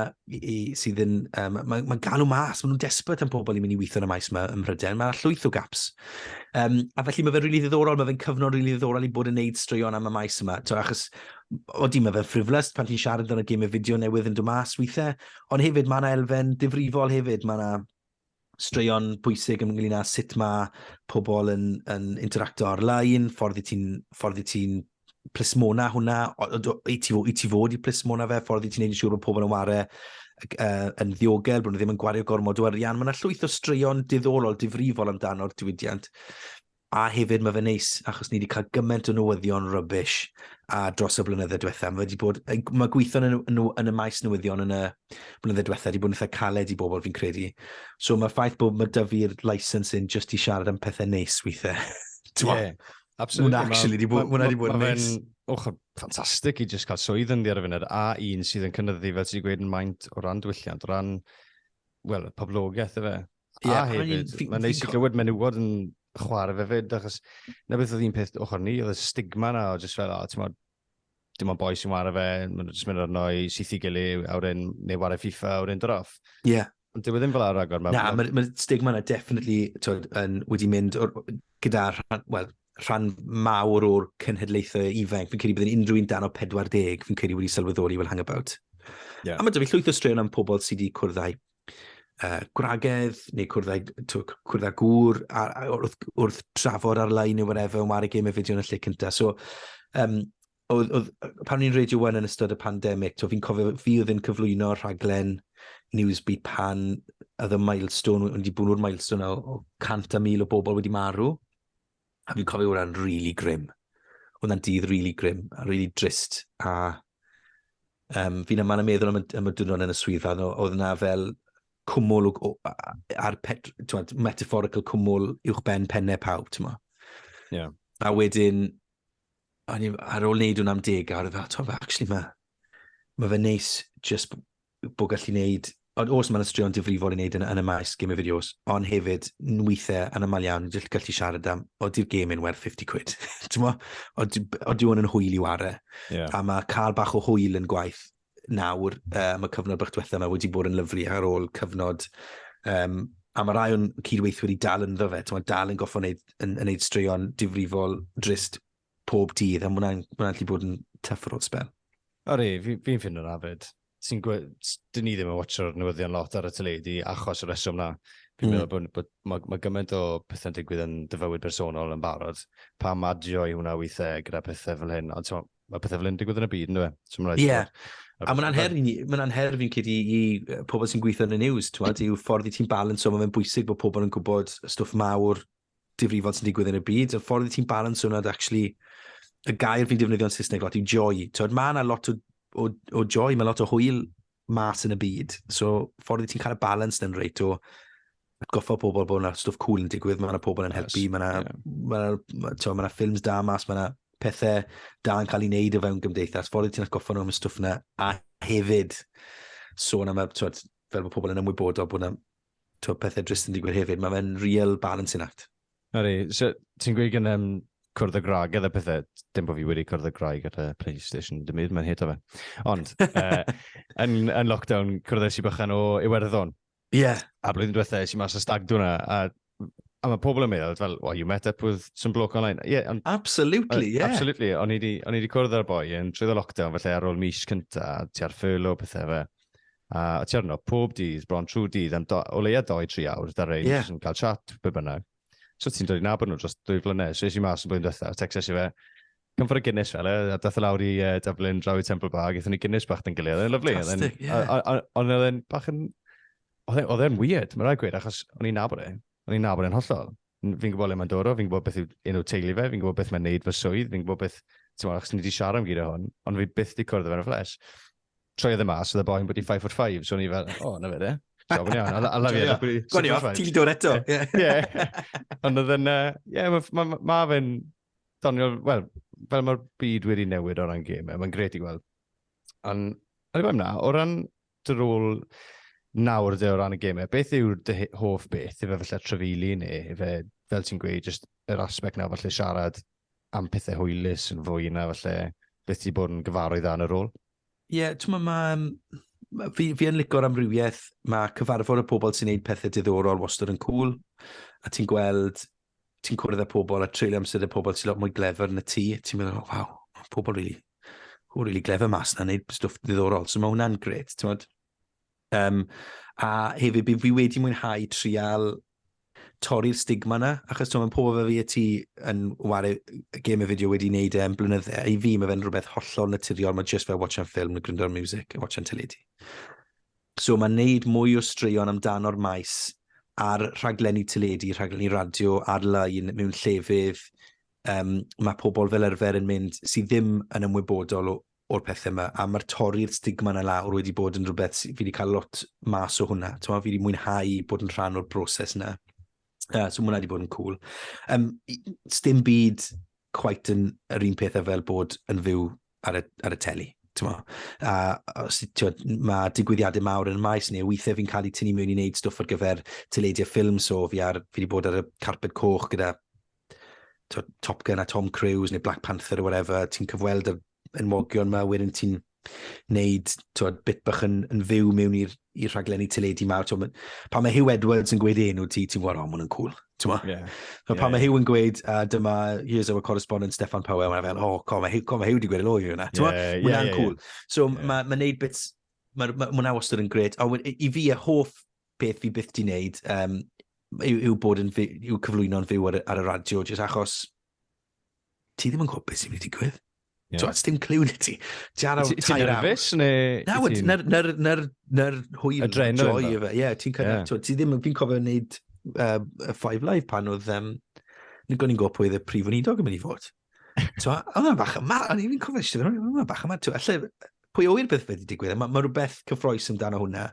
sydd yn, um, mae'n ma galw mas, maen nhw'n despert am pobl i mynd i weithio yn y maes yma ym Mhrydain, mae llwyth o gaps. Um, a felly mae fe'n rili really ddiddorol, mae fe'n cyfnod rili really ddiddorol i bod yn neud straeon am y maes yma. Twa, achos, o di, mae fe'n ffriflus pan ti'n siarad yn y gym y fideo newydd yn dod mas weithiau, ond hefyd mae yna elfen difrifol hefyd, mae yna straeon pwysig ynglyn â sut mae pobl yn, yn interacto ar-lein, ffordd i ti'n ti plismona hwnna, i ti, i ti fod i plismona fe, ffordd i ti'n neud yn siŵr bod pobl yn ware uh, yn ddiogel, bod nhw ddim yn gwario gormod o arian. Mae yna llwyth o straeon diddorol, difrifol amdano'r diwydiant. A hefyd, mae fe neis, achos ni wedi cael gymaint o newyddion rybys a dros y blynydde diwetha. Mae, wedi bod, mae gweithio yn, yn, yn y maes newyddion yn y blynydde diwetha wedi bod yn eitha caled i bobl fi'n credu. So mae'r ffaith bod mae dy fi'r license yn just i siarad am pethau neis weithiau. yeah, absolutely. Mae'n actually wedi bod, wedi bod yn neis. Ochr ffantastig i just cael swydd yn ddi ar y funud, a un sydd yn cynnyddu, fel ti'n gweud, yn maint o ran diwylliant, o ran, wel, poblogaeth efe. Ie, a hefyd, mae'n neis i glywed menywod yn chwarae fe fyd, achos na beth oedd un peth ochr ni, oedd y stigma na, o jyst fel, o, ti'n modd, dim ond boi sy'n wario fe, mae'n jyst mynd arno i syth i gili, awr un, neu wario FIFA, awr un droff. Ie. Yeah. Ond dwi e ddim fel ar agor. Na, mae'r ma stigma yna definitely twyd, yn, wedi mynd or, gyda rhan, well, rhan mawr o'r cenhedlaethau ifanc. Fi'n credu bod yn unrhyw un dan o 40, fi'n credu wedi sylweddoli fel hangabout. Yeah. A mae dyfu llwyth o straeon am pobl sydd wedi cwrdd â'i uh, gwragedd neu cwrdd â, cwrdd â gŵr a, a, wrth, wrth trafod ar-lein neu whatever yn wario gêm y fideo yn y lle cyntaf. So, um, oedd, oedd, pan ni'n Radio 1 yn ystod y pandemig, fi'n cofio fi oedd yn cyflwyno rhaglen Newsbeat pan oedd y milestone, wedi bod nhw'r milestone o, o 100 a 1000 o bobl wedi marw. A fi'n cofio hwnna'n really grim. Hwnna'n dydd really grim, a really drist. A um, fi'n yma yn meddwl am y, am y dwrnod yn y swyddfa, oedd yna fel cwmwl ar pet, tywed, metaphorical cwmwl uwch ben pennau pawb, ti'n ma. Yeah. A wedyn, ar ôl wneud hwnna am deg, a oedd e fel, ti'n ma, actually, mae ma fe neis just bod gallu gwneud, ond os mae'n ystrion difrifol i wneud yn, yn y maes game of videos, ond hefyd nwythau yn ymlaen iawn, dwi'n gallu siarad am, o di'r game yn werth 50 quid, ti'n mo? O diw yn hwyl i ware. Yeah. A mae cael bach o hwyl yn gwaith nawr, um, y cyfnod bych diwethaf yma wedi bod yn lyflu ar ôl cyfnod um, a mae rai o'n cydweithwyr i dal yn ddo fe, ti'n dal yn goffo wneud, yn, yn wneud straeon difrifol drist pob dydd, a mwna'n mwna gallu bod yn tuff ar ôl spel. O re, fi'n fi ffind o'n afed. Ti'n gwybod, dyn ni ddim yn watcho'r newyddion lot ar y teledu achos y reswm na. Fi'n mm. meddwl bod, bod mae, mae gymaint o pethau'n digwydd yn dyfywyd bersonol yn barod. Pa madio i hwnna weithiau gyda pethau fel hyn. Ond mae pethau fel hyn digwydd yn y byd, ynddo fe? Ie. Yeah. A mae'n anher, mae'n anher fi'n cyd i, i pobl sy'n gweithio yn y news, ti'n meddwl, yw ffordd i ti'n balance o, mae'n bwysig bod pobl yn gwybod stwff mawr difrifol sy'n digwydd yn y byd, y ffordd i ti'n balansio hwnna, actually, y gair fi'n defnyddio'n Saesneg lot yw joy. Tywed, mae yna lot o, o, o joy, mae lot o hwyl mas yn y byd. So, ffordd i ti'n cael y balans yn reit o atgoffa pobl bod yna stwff cool yn digwydd, mae yna pobl yn helpu, yes, mae yna yeah. ma ma, ma, ma ffilms da mas, mae yna pethau da yn cael ei wneud o fewn gymdeithas. Ffordd i ti'n atgoffa nhw am y stwff yna, a hefyd sôn am y, tywed, fel bod pobl yn ymwybodol bod yna twyd, pethau drist yn digwydd hefyd. Mae fe'n real balancing act. Ydy, so ti'n gweud gen um, cwrdd y graig gyda pethau. Dim bod fi wedi cwrdd y graig gyda PlayStation, dim byd, mae'n hit o fe. Ond, uh, yn, yn lockdown, cwrddais i bychan o Iwerddon. Ie. Yeah. A blwyddyn diwethaf, eisiau mas o stag dwi'n a A mae pobl yn meddwl, fel, well, you met up with some bloke online. Yeah, and, absolutely, uh, yeah. Absolutely. O'n i wedi cwrdd â'r boi yn trwy y lockdown, felly ar ôl mis cynta, ti ar ffyrlo, pethau fe. A tierno, pob dydd, bron trwy dydd, am do, o leia 2-3 awr, da rein, yeah. yn cael chat, be bynnag. So ti'n dod i nabod nhw dros dwy flynedd, so eisiau mas yn blwyddyn diwethaf, texas i fe, come for a Guinness fel e, a dath e lawr i uh, Dublin, draw i Temple Bar, gyda ni Guinness bach dyn gilydd, oedd lyflu. Fantastic, ie. Ond oedd e'n bach yn, e, oedd e'n weird, mae'n rhaid gweud, achos o'n i'n nabod e, o'n i'n nabod e'n hollol. Fi'n gwybod le mae'n dod o, fi'n gwybod beth yw un o teulu fe, fi'n gwybod beth mae'n neud fy swydd, fi'n gwybod beth, ti'n meddwl, achos ni wedi siarad am gyd o hwn, ond fi byth wedi cwrdd o fe'n y ffles. troiodd e mas, oedd y boi'n bod i 5 foot 5, so o'n i fel, o, oh, na fe de. So, o'n i iawn, a lafi e. Gwni off, ti'n dod eto. Ie. Ond oedd yna, ie, mae fe'n doniol, wel, fel mae'r byd wedi newid o ran gym, e, mae'n gret i gweld. Ond, o'n i fawr na, o ran dy rôl nawr dy o ran y gym, e, beth yw'r dy hoff beth, efe falle trefili neu efe, fel ti'n gweud, just yr aspect nawr falle siarad am pethau hwylus yn fwy na falle beth ti bod yn gyfarwydd â yn y rôl? Ie, yeah, ti'n meddwl, mae... Fi, fi yn licor amrywiaeth, mae cyfarfod y pobl sy'n neud pethau diddorol wastad yn cool, a ti'n gweld, ti'n cwrdd â pobl a treulio amser y pobl sy'n lot mwy glefer na ti, ti'n meddwl, oh, waw, pobl really, pobl really glefer mas na, neud stwff diddorol, so mae hwnna'n gret, ti'n meddwl, Yym, a hefyd, fi, fi wedi mwynhau trial torri'r stigma yna, achos ti'n meddwl, pobl fe fi a ti yn wario game y fideo wedi wneud e'n blynyddau, i fi mae fe'n rhywbeth hollol naturiol, mae just fel watching ffilm neu gryndo ar music a watching teledu. So mae'n neud mwy o straeon amdano'r maes a'r rhaglenni teledu, rhaglenni radio ar-lein mewn llefydd um, mae pobl fel arfer yn mynd sydd ddim yn ymwybodol o, o'r pethau yma, a mae'r torri'r stigma na lawr wedi bod yn rhywbeth, fi wedi cael lot mas o hwnna, ti'n fi wedi mwynhau bod yn rhan o'r broses yna. Uh, so mwynhau wedi bod yn cool. Um, stim byd quite yn yr un pethau fel bod yn fyw ar y, ar y teli. Mo. A os, twa, mae digwyddiadau mawr yn y maes neu weithiau fi'n cael ei tynnu mewn i wneud stwff ar gyfer teledu a ffilm, so fi, ar, fi wedi bod ar y carpet coch gyda Top Gun a Tom Cruise neu Black Panther or whatever, ti'n cyfweld y enwogion yma, wedyn ti'n neud twod, bit bach yn, yn fyw mewn i'r rhaglenni teledu mawr. Twod, pan mae Hugh Edwards yn gweud enw ti, ti'n gwybod, o, maen nhw'n cool. Yeah. yeah. pan yeah. mae Hugh yn gweud, uh, dyma, here's our correspondent Stefan Powell, mae'n fel, o, oh, co, mae Hugh, co, mae Hugh wedi gweud yn o'i hwnna. Yeah, yeah, yeah, yeah, cool. Yeah. So yeah. mae'n ma neud bits, mae'n ma, ma, ma wastad yn gred. A i fi, y hoff peth fi byth di wneud um, yw, yw, bod yn, yw cyflwyno'n fyw ar, ar y radio, jyst achos ti ddim yn gwybod beth sy'n mynd i digwydd. Yeah. Ti'n dim clyw na ti. Ti ar awr tair awr. nerfus neu... Na, wyd, na'r, na'r, na'r, na'r hwyl. Adrenal. Joy efe, ie. Ti'n cael, yeah. ti ddim, fi'n cofio wneud uh, Five Live pan oedd, um, ni'n gwybod pwy oedd y prif weinidog yn mynd i fod. Twa, oedd yna bach yma, o'n i'n cofio eisiau dweud, oedd yna bach yma, twa, lle, pwy oer beth wedi digwydd, mae ma rhywbeth cyffroes amdano hwnna.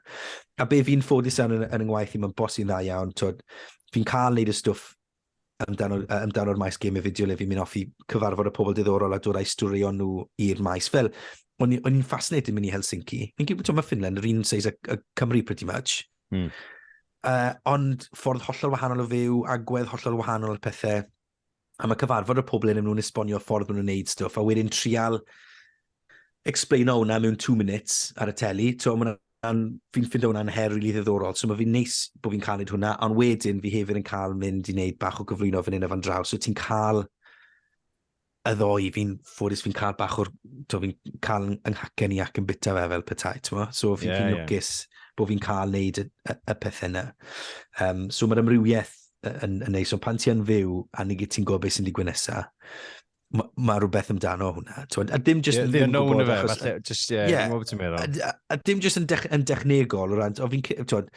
A be fi'n ffodus yn, yn, yn yngwaith i, mae'n bos i'n dda iawn, fi'n cael neud y stwff amdano'r amdano maes gym y fideo le fi'n mynd off i cyfarfod y pobl diddorol a dod a'i storio nhw i'r maes. Fel, o'n i'n fascinated mynd i Helsinki. Fi'n gwybod, ti'n mae Finland yr un seis y, y Cymru pretty much. Mm. Uh, ond ffordd hollol wahanol o fyw, agwedd hollol wahanol o'r pethau. am y cyfarfod y pobl yn nhw'n esbonio'r ffordd maen nhw'n neud stwff, a wedyn trial explaino hwnna mewn two minutes ar y teli, so maen fi'n ffindo hwnna'n her rili really ddiddorol, so mae fi'n neis bod fi'n cael neud hwnna, ond wedyn fi hefyd yn cael mynd i wneud bach o gyflwyno fan hyn a fan draw, so ti'n cael y ddoi, fi'n ffodus fi'n cael bach o'r, to fi'n cael ynghacen i ac yn bita fe fel petai, ti'n mo? So fi'n yeah, fi yeah. lwcus bod fi'n cael neud y, y, y pethau yna. Um, so mae'r amrywiaeth yn, yn neis, ond pan ti yn fyw a ni gyd ti'n gwybod beth sy'n digwydd nesaf, mae ma rhywbeth amdano hwnna. Twyd, a dim jyst yeah, yn ddim yn gwybod. Fe, achos, falle, just, yeah, yeah, a, a, a, dim jyst yn, dech, yn dechnegol o ran, o fi'n, twyd,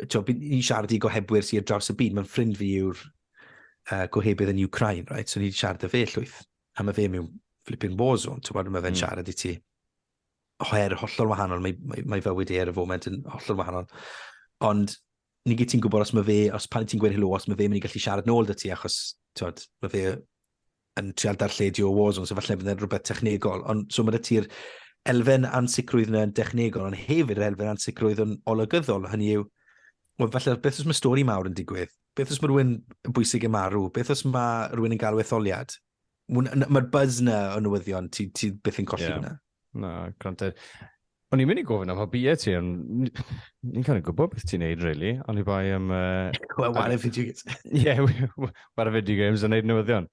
twyd, ni'n siarad i gohebwyr sy'n draws y byd, mae'n ffrind fi yw'r uh, gohebydd yn Ukraine, right? so ni'n siarad y fe llwyth, a mae fe mewn flipping war zone, twyd, mae fe'n mm. siarad i ti her hollol wahanol, mae, mae, mae fywyd e ar y foment yn hollol wahanol. Ond ni gyd ti'n gwybod os mae fe, os pan ti'n gweud helo, os mae fe mynd i gallu siarad nôl dy ti, achos, ti'n mae fe yn trial darlledu o Warzone, so falle bydd rhywbeth technegol. Ond, so mae ti'r elfen ansicrwydd yna'n dechnegol, ond hefyd yr elfen ansicrwydd yn olygyddol. Hynny yw, well, falle, beth os mae stori mawr yn digwydd? Beth os mae rhywun yn bwysig yn marw? Beth os mae rhywun yn galw etholiad? Mae'r buzz na o newyddion, ti, ti beth yn colli yeah. hwnna. Na, granted. O'n i'n mynd i gofyn am hobbyau ti, ond ni'n cael ei gwybod beth ti'n neud, really. Ond i bai am... Uh, well, what if you... Yeah, what if you games yn neud newyddion.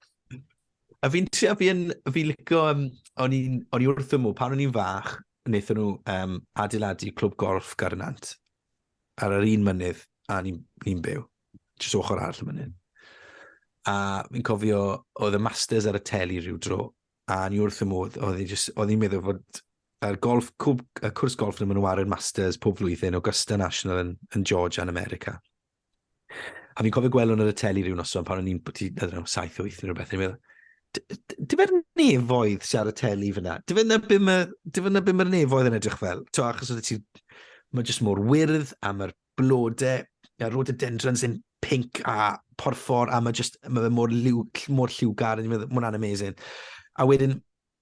A fi'n trio, fi'n fi licio, um, o'n i wrth ymw, pan o'n i'n fach, wnaethon nhw um, adeiladu clwb golf Garnant ar yr un mynydd a ni'n ni byw, jyst ochr arall y mynydd. A fi'n cofio, oedd y Masters ar y teli rhyw dro, a ni wrth y modd, oedd hi just, oedd hi'n meddwl fod yr golf, cwb, y cwrs golf nhw'n mynd yn Masters pob flwyddyn, Augusta National yn, yn Georgia yn America. A fi'n cofio gweld hwn ar y teli rhyw noson pan o'n i'n bod i, ydyn nhw, 7, 8 neu rhywbeth, yn meddwl, dim yr nefoedd sy'n ar y teli fyna. Dim yna bum y, dim yna bum yr nefoedd yn edrych fel. To, achos oedd ti, mae jyst mor wyrdd a mae'r blodau, a rhododendrons yn pink a porffor, a mae just, mae fe mor, lliw, mor lliwgar, mae hwnna'n amazing. A wedyn,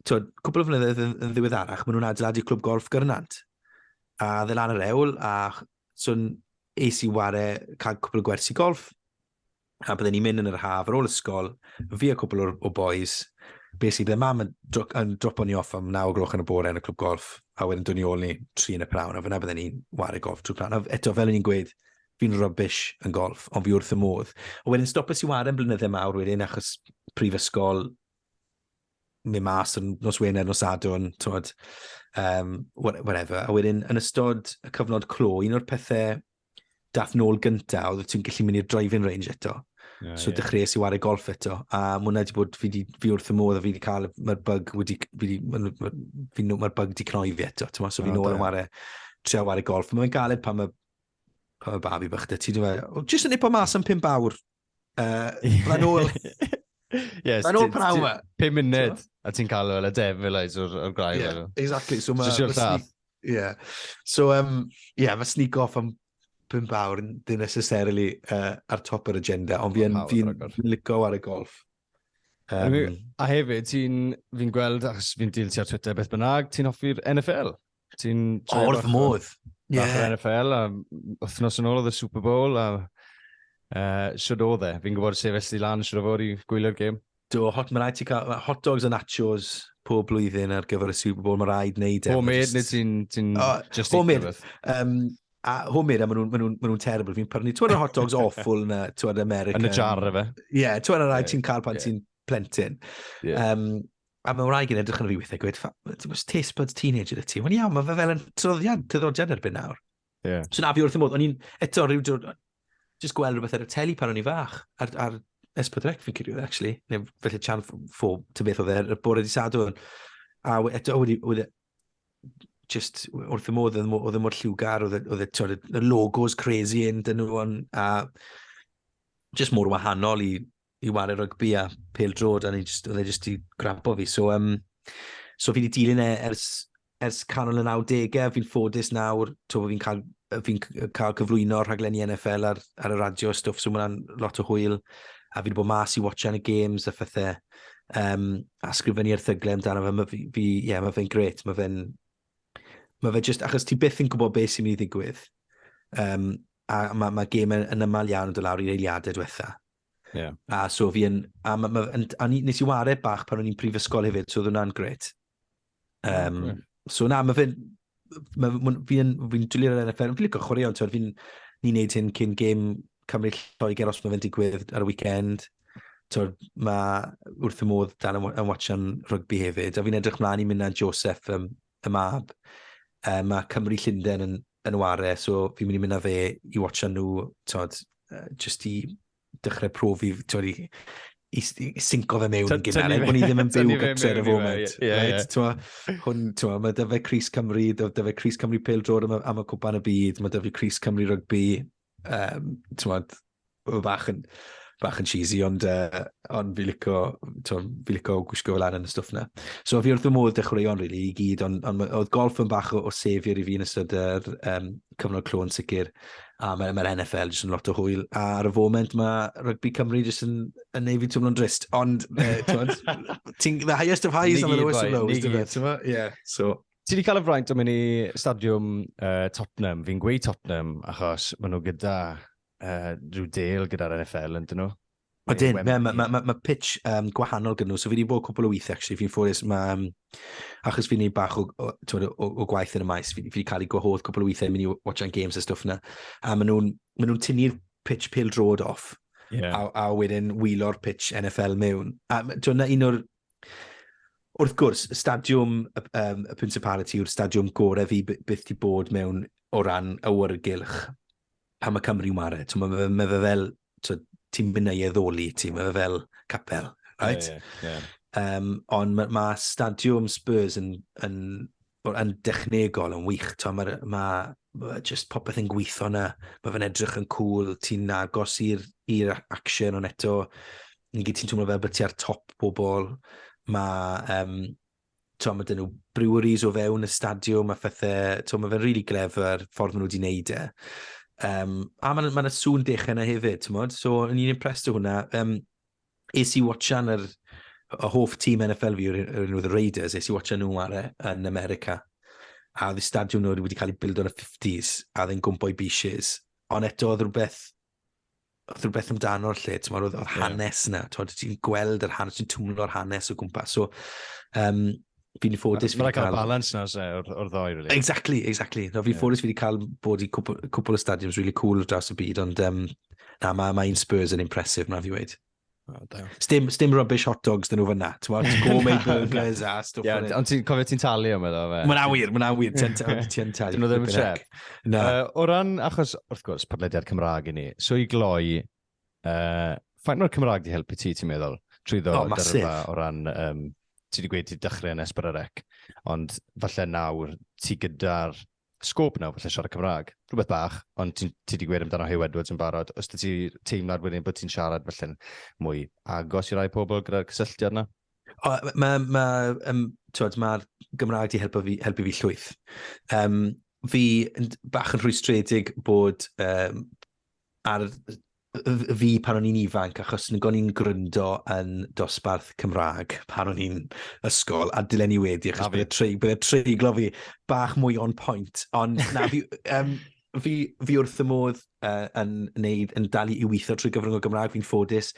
twyd, cwbl o flynyddoedd yn, yn ddiweddarach, maen nhw'n adeiladu clwb golf gyrnant. A dde lan yr ewl, a swn es i ware cael cwbl o gwersi golf, a bydden ni'n mynd yn yr haf ar ôl ysgol, fi a cwpl o'r, o boys, basically bydde mam yn, dro, yn dropo ni off am 9 o gloch yn y bore yn y clwb golf, a wedyn dod ni ôl ni tri yn y prawn, a fyna bydden ni'n wario golf trwy prawn. A eto, fel o'n i'n gweud, fi'n rubbish yn golf, ond fi wrth y modd. A wedyn stopes i wario yn blynyddau mawr wedyn, achos prifysgol, mi mas yn nos Wener, nos Sadwn, tywed, um, whatever. A wedyn, yn ystod y cyfnod clo, un o'r pethau dath nôl gynta, oedd ti'n gallu mynd i'r driving range eto. Yeah, so yeah. dechreuais i wario golf eto. A mae hwnna wedi bod, fi, di, fi wrth y modd a fi wedi cael, mae'r bug wedi, fi di, mae'r ma, ma, ma bug wedi cnoi fi eto. Tyma, so fi'n ôl yn wario, trio wario golf. Mae'n galed pan mae, pan mae babi bych dy ti. Dwi'n meddwl, jyst yn nipo mas am pimp awr, Uh, Mae'n ôl... yes, Mae'n ôl praw ma. Pum munud, a ti'n cael fel y devil eyes o'r, or grai. Yeah, exactly. So mae... Just llath. Yeah. So, um, yeah, mae sneak off am pum bawr, ddim necessarily uh, ar top yr agenda, ond fi'n fi licio ar y golf. Um, a hefyd, ti'n, fi'n gweld, achos fi'n dilti ar Twitter beth bynnag, ti'n hoffi'r NFL? Ti'n joio O'r bach o- modd. Ie. Bach o'r NFL, a wythnos yn ôl oedd y Super Bowl, a uh, siwr oedd e. Fi'n gwybod sefyll di lan siwr o fod i gwylio'r gêm. Do, hot, mae rhaid ti cael ma' hot dogs a nachos pob blwyddyn ar gyfer y Super Bowl, mae rhaid wneud e. Homemade Just- neu ti'n... ti'n O, just homemade. eat rhywbeth? Um, a homemade, a maen nhw'n ma nhw, ma nhw terrible. Fi'n prynu, ti'n hot dogs awful na, ti'n American. Yn y jar efe. Ie, yeah, ti'n rhaid Ie, ti'n cael pan ie. ti'n plentyn. Ie. Um, A mae wraig yn edrych yn fi weithiau gwed, ti'n gwybod, taste buds teenager y ti. Mae'n iawn, mae fe fel yn tryddiad, tryddiad erbyn nawr. Yeah. So na fi wrth y modd, o'n i'n eto rhyw drwy, just gweld rhywbeth ar y teli pan o'n i'n fach, ar, ar S4C fi'n cyrraedd, actually, neu felly chan ffo, ti'n beth oedd e, y bore di sadwn. A eto, oedd e, just wrth y modd, oedd e mor lliwgar, oedd e, e y logos crazy yn dyn nhw, a just mor wahanol i i wario rygbi a pel drod, a oedd e jyst i grapo fi. So, um, so fi wedi dilyn e ers, ers canol y 90au, fi'n ffodus nawr, to fi'n cael, fi cael cyflwyno rhaglenni NFL ar, ar y radio stwff, so mae'n lot o hwyl, a fi wedi bod mas i watchan y games a phethau, um, a sgrifennu erthyglau amdano fe, mae fi, fi yeah, mae fe'n gret, mae fe'n, mae fe just, achos ti byth yn gwybod beth sy'n mynd i ddigwydd, um, a mae ma gêm yn, yn ymal iawn yn dod lawr i'r eiliadau diwetha, Yeah. A so fi yn... A, ma, ma, yn, a nes i ware bach pan o'n i'n prifysgol hefyd, so oedd hwnna'n gret. Um, yeah. So na, mae fe'n... Ma, ma, fi yn... Fi'n dwylio'r NFL, fi'n licio chwaraeon, ti'n fi'n... Ni'n neud hyn cyn gêm Cymru Lloegr os mae fe'n digwydd ar y weekend. Tywed, mae wrth y modd dan yn watchan rygbi hefyd. A fi'n edrych mlaen i mynd â Joseph, um, y mab. Um, mae Cymru Llundain yn, yn ware, so fi'n mynd i mynd â fe i watcha nhw, tod, uh, just i dechrau profi, tod, i, i, i synco fe mewn yn gynnar, er bod ni ddim yn byw gytre ar y foment. Yeah, right? yeah. Twa, hwn, twa, mae dyfa Cris Cymru, dyfa Cris Cymru Pel Drod am, am y cwpan y byd, mae dyfa Cris Cymru Rygbi, um, ti'n modd, bach yn, bach yn cheesy, ond, uh, ond fi lico, fi lico gwisgo fel arnyn y stwff na. So fi wrth y modd dechreuon, really, i gyd, ond on, oedd golf yn bach o, o sefyr i fi yn ystod yr um, cyfnod clo yn sicr, a mae'r ma NFL jyst yn lot o hwyl, a ar y foment mae rygbi Cymru jyst yn, yn neud fi twmlo'n drist, ond, ti'n, the highest of highs on the lowest of lows, ti'n Yeah, so, Ti wedi cael y fraint o mynd i stadiwm uh, Tottenham. Fi'n gweud Tottenham achos maen nhw gyda uh, rhyw deal gyda'r NFL, yn dyn nhw? O dyn, mae ma, ma, ma, ma pitch um, gwahanol gyda nhw. So fi wedi bod cwpl o weith, actually, fi'n ffwrus. Mae, um, achos fi'n ei bach o, o, o, o, o gwaith yn y maes, fi, fi wedi cael ei gwahodd cwpl o weithiau, mynd i watching games a stwff na. A maen nhw'n ma nhw tynnu'r pitch pil drod off. Yeah. A, a wedyn wylo'r pitch NFL mewn. A dwi'n un o'r Wrth gwrs, stadiwm y, um, y Principality yw'r stadiwm gorau fi byth ti bod mewn o ran awyrgylch pan mae Cymru'n ware. Mae ma, ma fe fel, ti'n mynd ei eddoli ti, mae fe fel capel, right? Yeah, yeah, yeah. Um, ond mae ma stadiwm Spurs yn, yn yn dechnegol yn wych. Mae ma, ma, ma just popeth yn gweithio yna. Mae fe'n edrych yn cool. Ti'n agos i'r action, ond eto, yn gyd ti'n twmlo fel bod ti ar top bobl. Mae, um, to, mae dyn nhw breweries o fewn y stadiwm a phethau. To, mae fe'n rili really glefer ffordd maen nhw wedi wneud e. Um, a mae'n ma, ma sŵn dech yna hefyd, ti'n modd? So, yn i'n impressed o hwnna. Um, es i watchan yr y hoff tîm NFL fi yw'r un oedd y Raiders, es i watchan nhw ar e yn America. A oedd y stadiwm nhw wedi cael ei build o'n y 50s, a oedd e'n gwmpo i beaches. Ond eto oedd rhywbeth, oedd rhywbeth amdano'r lle, ti'n oedd, oedd hanes yna, ti'n ti'n gweld yr hanes, ti'n twmlo'r hanes o gwmpas. So, um, fi'n ffodus fi wedi cael... Mae'n balans na, se, o'r, or ddoi, really. Exactly, exactly. No, fi'n yeah. ffodus fi wedi cael bod i cwpl, cwpl o stadiums really cool dros y byd, ond um, na, mae ma un Spurs yn impressive, na fi wedi. Oh, stim, stim rubbish hot dogs dyn nhw fyna. Ti'n gourmet burgers a stwff. Yeah, ond ti'n cofio ti'n talu am yna? Mae'n awyr, mae'n awyr. Ti'n talu. Dyn nhw ddim yn siarad. O ran, achos, wrth gwrs, podlediad Cymraeg i ni. So i gloi, Uh, faint mae'r Cymraeg di helpu ti, ti'n meddwl? Trwy ddo, oh, dyrfa o ran, um, ti wedi gweud ti dechrau yn esbyd ar ec, ond falle nawr ti gyda'r sgôp nawr falle siarad Cymraeg. Rhywbeth bach, ond ti, ti wedi gweud amdano Hugh Edwards yn barod. Os ti teimlad wedyn bod ti'n siarad falle mwy agos i rai pobl gyda'r cysylltiad yna? Mae'r ma, ma, um, ma Gymraeg di helpu fi, helpu fi llwyth. Um, fi bach yn rhwystredig bod um, ar fi pan o'n i'n ifanc, achos nid o'n i'n gryndo yn dosbarth Cymraeg pan o'n i'n ysgol, a dylen ni wedi, achos bydd y treiglo fi bach mwy o'n pwynt. Ond na, fi, um, fi, fi wrth y modd uh, yn, neud, yn dal i weithio trwy gyfrwng o Gymraeg. Fi'n ffodus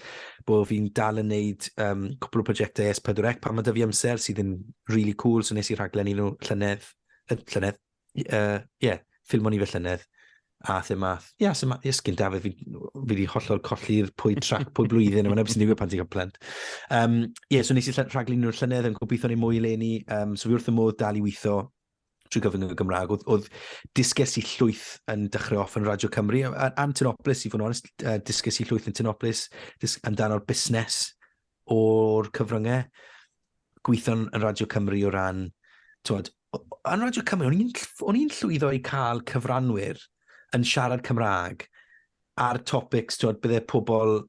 bod fi'n dal yn neud um, cwpl o prosiectau S4C pan mae dy fi amser sydd yn really cool. So nes i rhaglen i nhw llynedd, llynedd, Ie, uh, yeah, ffilm o'n i fe llynedd, a thym math. Ie, yeah, sy'n math, ysgyn da, fi, wedi hollol colli'r pwy trac, pwy blwyddyn, yma neb sy'n digwydd pan ti'n cael plant. Um, ie, yeah, so nes i rhaglun nhw'r llynedd, yn gobeithio ni mwy le ni, um, so fi wrth y modd dal i weithio trwy gyfyng y Gymraeg, oedd, oedd disges i llwyth yn dechrau off yn Radio Cymru, a'n Tynoplis, i fod yn onest, uh, disges i llwyth yn Tynoplis, dis, amdano'r busnes, o'r cyfryngau gweithio'n yn Radio Cymru o ran, twod, yn Radio Cymru, o'n i'n o'n i'n llwyddo i cael cyfranwyr yn siarad Cymraeg ar topics, twod, bydde pobl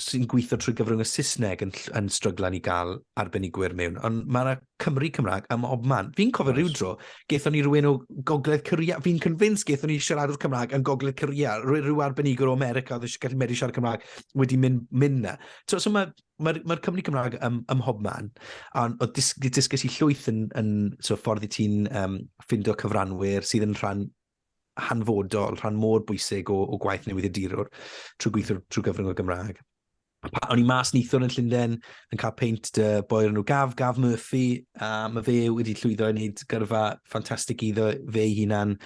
sy'n gweithio trwy gyfrwng y Saesneg yn, yn stryglan i gael arbenigwyr mewn. Ond mae yna Cymry Cymraeg ym mhob man. Fi'n cofio rhyw dro, gaethon ni rhywun o Gogledd Corea, fi'n convinced gaethon ni siaradwr Cymraeg yn Gogledd Corea, rhyw, rhyw arbenigwr o America oedd eisiau gallu medru siarad Cymraeg wedi mynd, mynd na. So, so mae'r ma, ma, ma Cymru Cymraeg ym, ym mhob man, a oedd dys, dysgais i llwyth yn, yn so, ffordd i ti'n um, ffindo cyfranwyr sydd yn rhan hanfodol, rhan mor bwysig o, o gwaith newydd y dirwr trwy gweithio trwy gyfrwng y Gymraeg. O'n i mas nithwr yn Llundain yn cael peint dy boi o'r enw Gaf, Gaf Murphy, a mae fe wedi llwyddo i wneud gyrfa ffantastig iddo fe ei hunan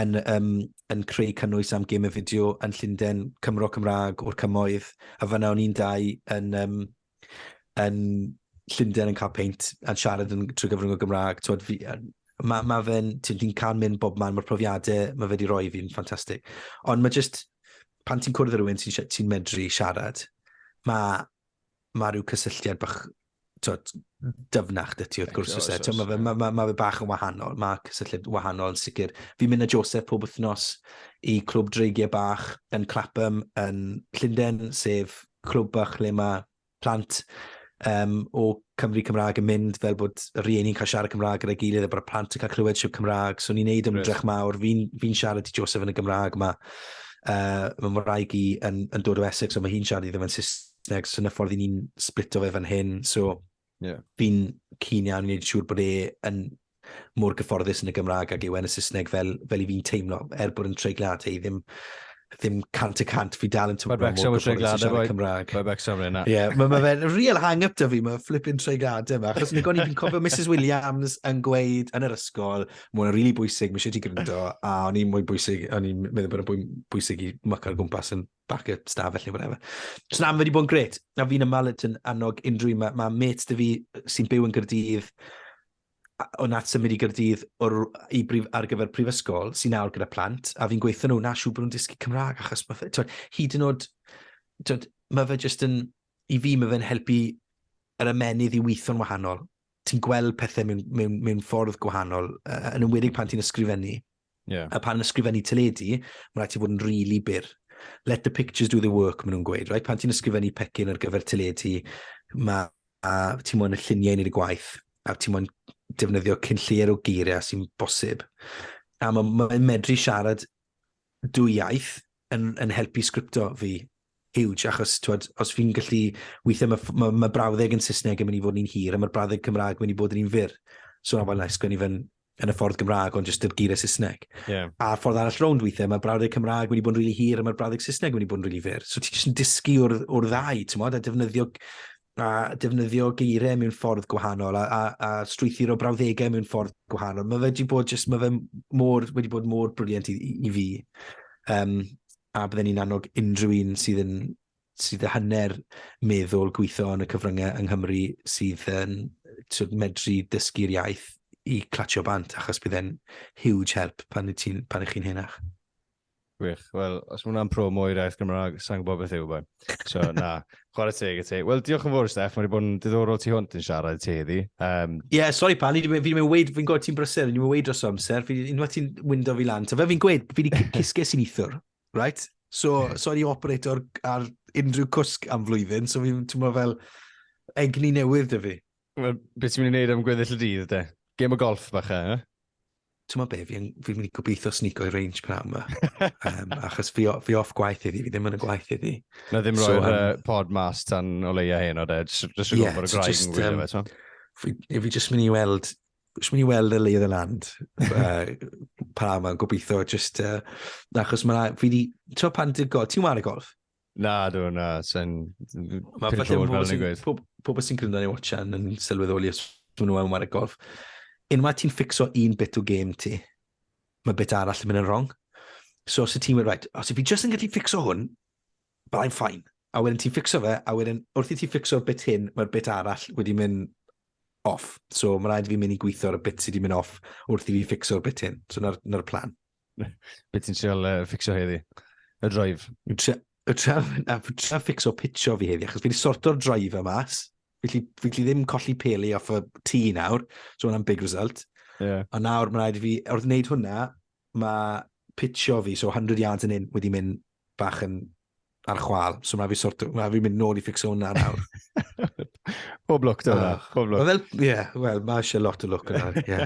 yn, um, yn creu cynnwys am gym y fideo yn Llundain, Cymro Cymraeg o'r cymoedd, a fyna o'n i'n dau yn, um, yn Llundain yn cael peint a'n siarad yn trwy gyfrwng o Gymraeg. Twod, fi, mae ma fe'n, ti'n cael mynd bob man, mae'r profiadau mae fe wedi rhoi fi'n ffantastig. Ond mae jyst, pan ti'n cwrdd â rhywun ti'n ti medru siarad, mae ma rhyw cysylltiad bach twod, dyfnach dy ti wrth gwrs. Oes, oes, mae, ma, ma, ma fe bach yn wahanol, mae cysylltiad wahanol yn sicr. Fi'n mynd â Joseph pob wythnos i clwb dreigiau bach yn Clapham yn Llundain, sef clwb bach lle mae plant um, o Cymru Cymraeg yn mynd fel bod y rhieni'n cael siarad Cymraeg gyda'i gilydd a bod y plant yn cael clywed siw Cymraeg. So ni'n neud ymdrech mawr. Fi'n fi siarad i Joseph yn y Gymraeg yma. Uh, mae Mwraeg i yn, yn dod o Essex, ond mae hi'n siarad i ddim yn Saesneg, so na ffordd i ni'n splito fe fan hyn. So yeah. fi'n cyn iawn i wneud siŵr bod e yn mor gyfforddus yn y Gymraeg ag yw e yn y Saesneg fel, fel i fi'n teimlo, er bod yn treiglad i ddim, ddim cant y cant, fi dal yn teimlo mor gyfforddus yn siarad y Cymraeg. Mae Becsom yn yna. Ie, mae ma fe'n real hang-up da fi, mae flipping treiglad yma. Achos ni goni, fi'n cofio Mrs Williams yn gweud yn yr ysgol, mae'n rili really bwysig, mae eisiau ti gryndo, a o'n i'n mwy bwysig, o'n i'n meddwl bod o'n bwysig i mwc ar gwmpas yn bac y stafell neu whatever. So na, mae wedi bod yn gret. A fi'n ymal yn annog unrhyw un. Mae ma mates dy fi sy'n byw yn Gyrdydd, o nath symud i Gyrdydd o'r, i brif, ar gyfer prifysgol, sy'n nawr gyda plant, a fi'n gweithio nhw, na siw bod nhw'n dysgu Cymraeg, achos mae fe, twyd, hyd yn oed, twyd, mae fe jyst yn, i fi mae fe'n helpu yr ymenydd i weithio'n wahanol. Ti'n gweld pethau mewn, mewn, mewn ffordd gwahanol, yn ymwedig pan ti'n ysgrifennu. Yeah. A pan ysgrifennu teledu, mae'n rhaid ti fod yn rili really byr. Let the pictures do the work, maen nhw'n gweud. Right? Pan ti'n ysgrifennu pecyn ar gyfer teledu, mae a ti'n mwyn y lluniau yn ei gwaith, a ti'n mwyn defnyddio cyn lleir o geiriau sy'n bosib. A mae'n ma medru siarad dwy iaith, yn, yn helpu sgripto fi huge, achos twed, os fi'n gallu, weithiau mae ma, ma brawddeg yn Saesneg yn mynd i fod yn hir, a mae'r brawddeg Cymraeg yn mynd i bod yn un fyr. So na, well, na, sgwennu fe'n yn y ffordd Gymraeg, ond jyst yr geiriau Saesneg. Yeah. A'r ffordd arall rownd weithiau, mae'r brawddeg Cymraeg wedi bod yn rili really hir a mae'r brawddeg Saesneg wedi bod yn rili really fyr. So ti'n jyst yn dysgu o'r, or ddau, ti'n modd, a defnyddio a defnyddio geiriau mewn ffordd gwahanol a, a, a strwythur o brawddegau mewn ffordd gwahanol. Mae fe wedi bod just, mae fe mor, wedi bod mor briliant i, i, i fi. Um, a bydden ni'n annog unrhyw un sydd yn sydd y hanner meddwl gweithio yn y cyfryngau yng Nghymru sydd yn sydd medru dysgu'r iaith i clatio bant, achos bydd e'n huge help pan, pan ych chi'n henach. Gwych. Wel, os mae hwnna'n promo i'r iaith Gymraeg, sa'n gwybod beth yw boi. So, na, chwarae teg i ti. Wel, diolch yn fawr, Steph. Mae'n bod yn diddorol ti hwnt yn siarad ti heddi. Um... yeah, sori pan, fi'n fi mynd weid, fi'n gwybod ti'n brysur, fi'n mynd weid dros amser, fi'n unwaith ti'n wyndo fi lan. So, fe fi'n gweud, fi wedi cysges i'n ithwr, right? So, sori operator ar unrhyw cwsg am flwyddyn, so fi'n tymlo fel egni newydd dy fi. Well, beth ti'n mynd i wneud am gweddill y dydd, de? Gêm o golf, bach e, eh? ti'n ma be, fi'n fi mynd i gobeithio snico i range pnawn yma. um, achos fi, fi off gwaith iddi, fi ddim yn y gwaith iddi. Na ddim roi'r so, um, uh, pod mas tan o leia hyn o ded, jyst yn yeah, gwybod y graig yn gwylio fe, so. Fi, fi jyst mynd i weld Jyst mynd i weld y lay of the land uh, pa yma, gobeithio, just, uh, achos mae fi di, ti'n pan ti'n golf, ti'n wario golf? Na, dwi, na, sa'n... Mae falle pobl pobl sy'n gwrando neu watchan yn sylweddoli os maen nhw am wario golf. Unwaith ti'n ffixo un bit o game ti, mae bit arall yn mynd yn wrong. So os y ti'n mynd, right, os i fi just yn gallu ffixo hwn, but I'm fine. A wedyn ti'n ffixo fe, a wedyn wrth i ti ffixo'r bit hyn, mae'r bit arall wedi mynd off. So mae rhaid i fi mynd i gweithio'r bit sydd wedi mynd off wrth i fi ffixo'r bit hyn. So na'r, na'r plan. Beth ti'n siol uh, ffixio heddi? Y droif? Y tra ffixo pitio fi heddi, achos fi wedi sorto'r droif yma mas. Felly, fi ddim colli peli off y tŷ nawr, so hwnna'n big result. Yeah. A nawr mae'n rhaid i fi, wrth wneud hwnna, mae pitio fi, so 100 yards yn un, wedi mynd bach yn ar chwal, so mae fi sort of, mae fi mynd nôl i ffixo hwnna nawr. Pob lwc da hwnna, ah. pob lwc. Wel, ie, yeah, wel, mae eisiau lot o lwc yna, ie.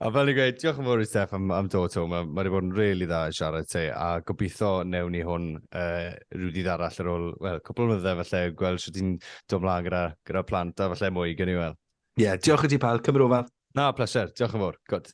A fel ni'n gweud, diolch yn fawr i Steph am, am dod to. Mae wedi bod yn rili really dda i siarad ti, a gobeithio newn ni hwn uh, rhyw dydd arall ar ôl, wel, cwpl o myddau falle, gweld sydd ti'n dod mlaen gyda, gyda plant a falle mwy, gen i wel. Ie, yeah, diolch i ti pal, cymryd ofal. Na, pleser, diolch yn fawr, gwrdd.